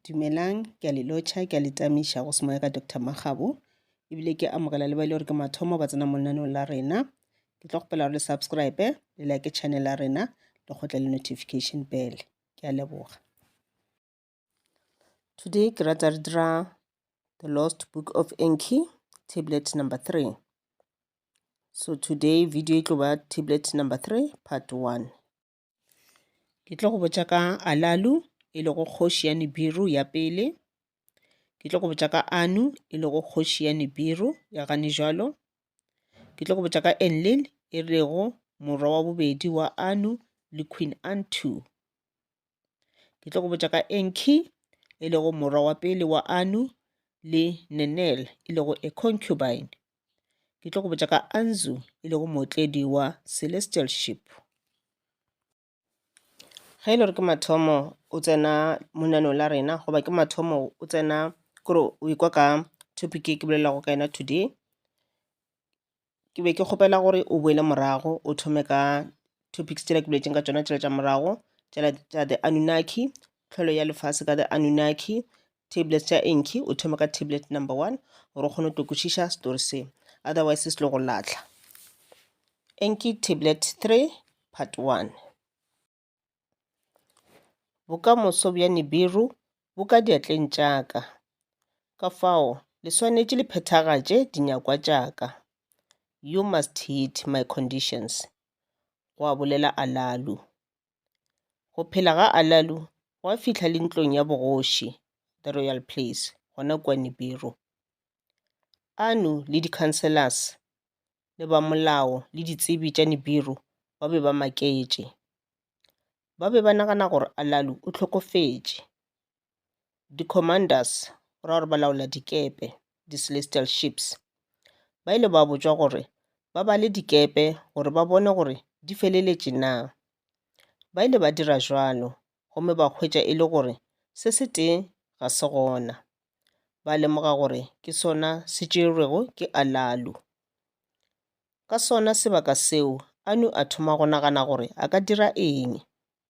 Dumelang, ke a le lotšha, ke a le tamiša go semoya ka Doctor Makgabo, ebile ke amogela le ba e le gore ke mathomo ba tsena mo lenaneong la rena. Ke tlo kgopela gore le subscribe, le like channel ya rena, le kgotle le notification bell. Ke a leboga. Today ke rata re dira The Lost Book of Enki, tablet number three. So today video e tlo ba tablet number three, part one. Ke tlo go botša ka Alalu e lego kgoši ya Nibiru ya pele. Ke tlo go botša ka Anu e lego kgoši ya Nibiru ya gane jalo. Ke tlo go botša ka Enlil e lego morwa wa bobedi wa Anu le Queen Antu. Ke tlo go botša ka Enki e lego morwa wa pele wa Anu le Nenel e lego a concubine Ke tlo go botša ka Anzu, e lego mootledi wa Celestial Ship. Ge e le gore ke mathomo o tsena monaneo la rena, goba ke mathomo o tsena kore o ikwa ka topic e ke bolelago ka yona today, ke be ke kgopela gore o boele morago o thome ka topics tšela ke boletseng ka tšona tšela tša morago, tšela tša the Anunnaki, tlholo ya lefase ka the Anunnaki, tablets tša enki o thome ka tablet number one gore o kgone go tokwešiša story se otherwise se lo go latlha enki tablet three part one bokamoso bja nibiru bo ka diatleng tša ka ka fao le swanetše le phethagatše dinyakwa tša ka you must hit my conditions gwa bolela alalu Go phela ga Alalu gwa fihla le ntlong ya bogoši, the royal place, gona kua Nibiru. Anu le di-councillors le ba molao le ditsebi tša Nibiru ba be ba maketše. Ba be ba nagana gore Alalu o hlokofetše. di-commanders ra gore ba laola dikepe, di-celestial ships, ba ile ba botšwa gore ba bale dikepe gore ba bone gore di feleletše na. Ba ile ba dira bjalo gomme ba hwetša e le gore se se tee ga se gona. Ba lemoga gore ke sona se tšerwego ke Alalu. Ka sona sebaka seo Anu a thoma go nagana gore a ka dira eng.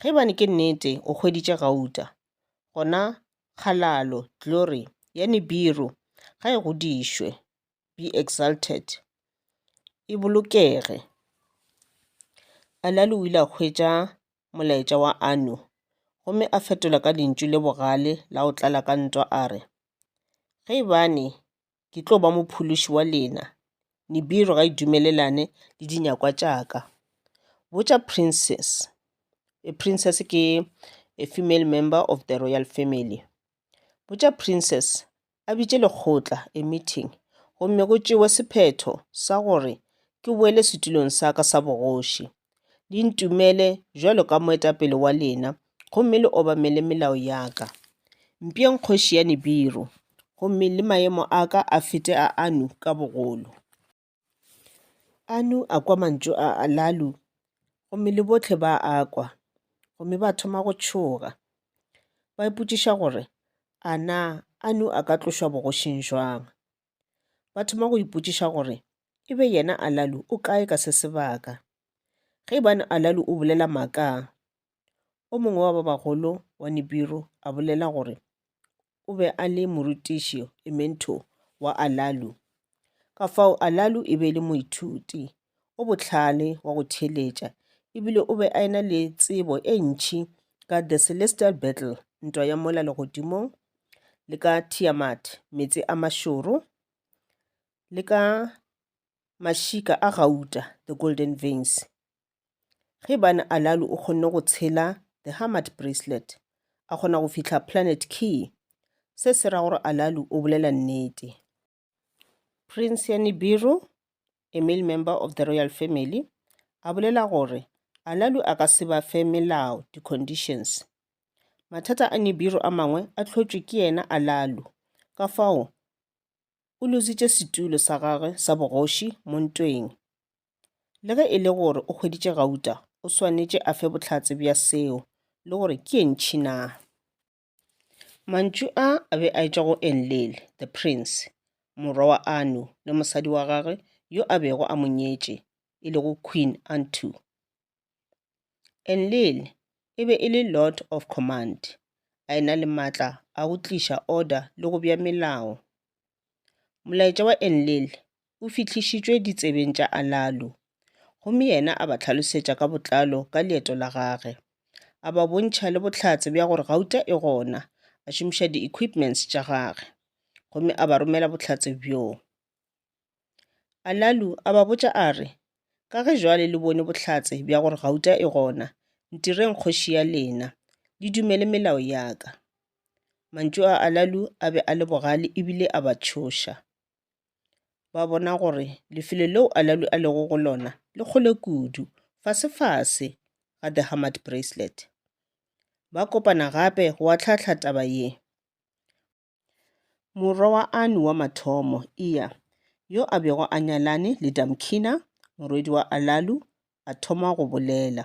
Ge e bane ke nnete o hweditše gauta, gona kgalalo, glory, ya Nibiru ga e godišwe, be exalted, e bolokege. Elali o ile a hwetša molaetša wa Anu gomme a fetola ka lentšu le bogale la go tlala ka ntwa a re, Ge e bane ke tlo ba mophološi wa lena. Nibiru ga e dumelelane le dinyakwa tša ka. Botša princess, princess ke a female member of the royal family. Botša princess a bitše lekgotla, a meeting, gomme go tšewe sephetho sa gore ke boele setulong sa ka sa bogoši. Le ntumele jwalo ka moetapele wa lena, gomme le obamele melao ya ka. Mpšeng kgoši ya Nibiru, gomme le maemo a ka a fete a Anu ka bogolo. Anu a kwa mantšu a Alalu, gomme le bohle ba a kwa, gomme ba thoma go tšhoga, ba ipotšiša gore, A na Anu a ka tlošwa bogošing bjang? Ba thoma go ipotšiša gore e be yena Alalu o kae ka se sebaka. Ge ibane Alalu o bolela maaka, o mongwe wa ba bagolo wa Nibiru a bolela gore o be a le morutiši, e mentor, wa Alalu. Ka fao Alalu e be e le moithuti o bohlale wa go theeletša e bile o be a ena le tsebo e ntšhi ka The Celestial Battle, Ntwa ya Mola Legodimong, le ka Tiamat, Meetse a Mašoro, le ka Mašika a Gauta, The Golden Veins. Ge bane Alalu o kgonne go tshela The Hamad Bracelet, a kgona go fihla Planet Key, se se ra gore Alalu o bolela nnete. Prince ya Nibiru, a male member of the royal family, a bolela gore Alalu a ka se ba fe melao, di-conditions. Mathata a Nibiru a mangwe a hlotšwe ke yena Alalu, ka fao o lozitše setulo sa gagwe sa bogoši mo ntweng. Le ge e le gore o hweditše gauta, o swanetše a fe bohlatse bja seo le gore ke ye ntšhi na. Mantšu a a be a etšwa go Enlil, the prince, morwa wa Anu le mosadi wa gagwe yo a bego a mo nyetše, e lego Queen Antu. Enlil e be e le lord of command, a e-na le matla a go tliša order le go bea melao. Molaetša wa Enlil o fihlišitšwe ditsebeng tša Alalu, gomme yena a ba hlalosetša ka botlalo ka leeto la gage, a ba bontšha le bohlatse bja gore gauta e gona, a šomiša di-equipments tša gagwe, gomme a ba romela bohlatse bjo. Alalu a ba botša a re, Ka ge jwale le bone bohlatse bja gore gauta e gona, ntireng kgoši ya lena, le dumele melao ya ka. Mantšu a Alalu a be a le bogale ebile a ba tšhoša. Ba bona gore lefelo leo Alalu a lego go lona le kgole kudu, fasefase ga The Hamad Bracelet. Ba kopana gape go ahlaahla taba ye. Morwa wa Anu wa mathomo, Iya, yo a bego a nyalane le Damkina, morwedi wa Alalu, a thoma go bolela.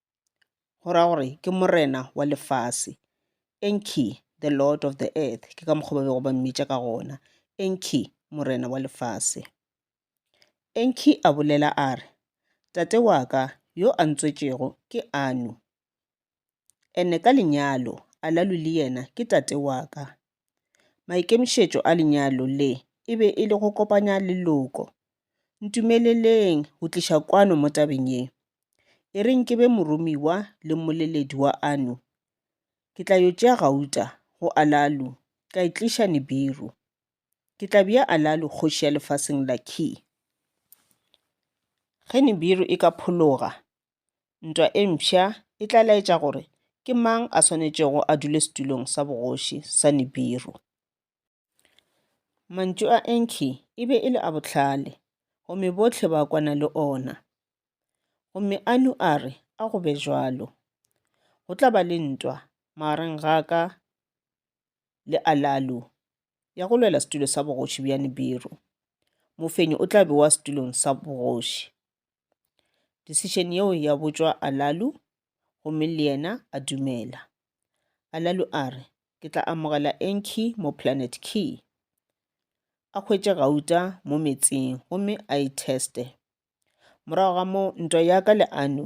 go ra gore ke morena wa lefase enki the lord of the earth ke ka mokgwa ba bego ba mmitša ka gona enki morena wa lefase enki a bolela a re tate wa ka yo a ntswetšego ke anu ene ka lenyalo alalu le yena ke tate wa ka Maikemišetšo a lenyalo le e be e le go kopanya leloko. Ntumeleleng go tliša kwano mo tabeng ye. E reng ke be moromiwa le mmoleledi wa ano. Ke tla yo tšea gauta go Alalu ka e tliša Nibiru. Ke tla bea Alalu kgoši ya lefaseng la Kir. Ge Nibiru e ka phologa, Ntwa e mpsha e tla laetša gore ke mang a swanetšego a dule setulong sa bogoši sa Nibiru. Mantšu a Enki e be e le a bohlale, gomme bohle ba kwana le ona. Gomme Anu a re, A go be bjalo. Go tla ba le ntwa magareng ga ka le Alalu ya go lwela setulo sa bogoši bja Nibiru. Mofenyi o tla bewa setulong sa bogoši. Decision yeo ya botšwa Alalu, gomme le yena a dumela. Alalu a re, Ke tla amogela Enki mo Planet Ki. A hwetše gauta mo metsing gomme a e teste. Morago ga moo, ntwa ya ka le Anu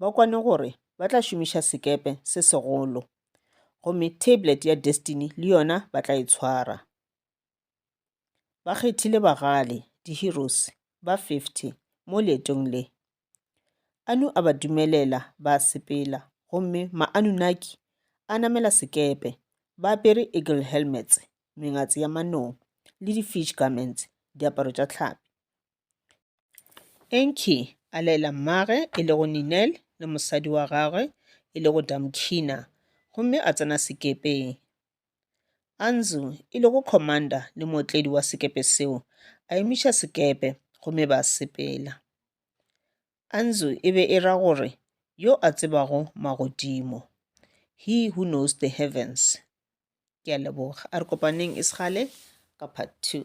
ba kwane gore ba tla šomiša sekepe se segolo gomme tablet ya destiny le yona ba tla e tshwara ba kgethile bagale di-heroes ba 50 mo leetong le anu a ba dumelela ba sepela gomme maanunaki a namela sekepe ba apere eagle helmets mengatse ya manong le di-fish garments diaparo tša tlhapi Enki a laela mmagwe e lego Ninel le mosadi wa gagwe e lego Damkina gomme a tsena sekepeng. Anzu e lego commander le mootledi wa sekepe seo a emiša sekepe gomme ba sepela. Anzu e be e ra gore yo a tsebago magodimo, he who knows the heavens. Ke a leboga. A re kopaneng e segale ka part two.